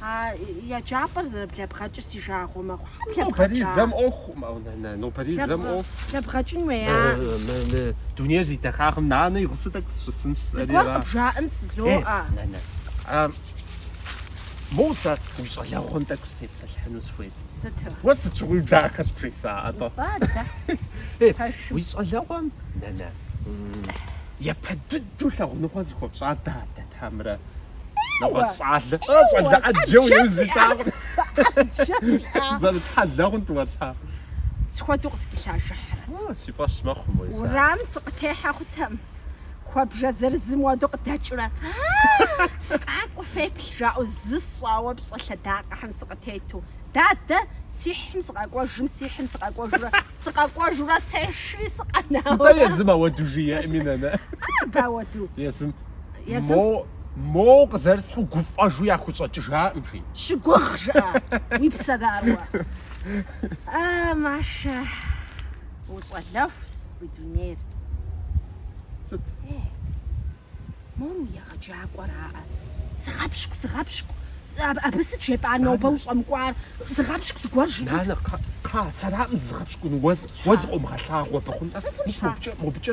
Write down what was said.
А еджапӏэр зэрыблэбгъэкӏыр си жагъуэ мэхъу. Хьэ блэбгъэкӏа? Нобэрей зэм ӏуэху. Мэ, нэ, нэ, нобэрей зэм Блэбгъэ- ӏуэху. Блэбгъэкӏын уеа? Э, мэ, мэ, Дунейр зи дахагъэм, нанэ и гъусэу тӏэкӏу сыщысынщ, сэри Зыгуэр ара. къыбжаӏэн Э, жызоӏэ. нэ, нэ. А, Моуэ сэ уи щӏалэгъуэм тӏэкӏу сытепсэлъыхьыну сыхуейт. Сыту? Уэ сыт щыгъуи дахэ сыпхуеса, атӏэ. Фӏадэ. Э, Пэшым. Уи щӏалэгъуэм, нэ, нэ, м, япэ дыдэу лъагъуныгъуэ зыхуэпщӏар дадэт хьэмэрэ. нэгъуэщӏ щӏалэ. Ӏэ, щӏалэ ӏэджэ уи ужь итакъэ. Зэрытхьэлэ хъунт уэр щхьэ. Сыт хуэдэу къыскӏэлъажыхьрэт. О, си фӏэщ мэхъу мой сэ. Уэрам сыкъытехьэ хъутэм, куэбжэ зырызым уэду къыдэкӏыурэ, Фыкъакӏуэ феплъ, жаӏэу зысщӏауэ пщӏэ лъэдакъэхэм сыкъытету, Дадэ сихьым сыкъэкӏуэжым, сихьым сыкъэкӏуэжурэ, сыкъэкӏуэжурэ сешри сыкъэнауэ. Дэ езым ауэду жиӏэми, нанэ. Абы ауэду. Езым. Мо, моу къызэрысхьу гуфӏэжу яхущӏэкӏыжакъым, жи. Щыгугъ, жыӏэ, уи псэ заруэ. А, Машэ, ущӏалэхущ уи дунейр. Сыт? Э, мор уи егъэджакӏуэраӏэ. Зыгъэпщкӏу, зыгъэпщкӏу. Абы сыт жепӏа нобэ ущӏэмыкӏуар? Зыгъэпщкӏу зыгуэр жи. Нанэ, сэракъым зызыгъэпщкӏун, уэ, уэ зыкъомыгъэлъагъу абы, хъунтӏэ. Мис мобыкӏэ, мобыкӏэ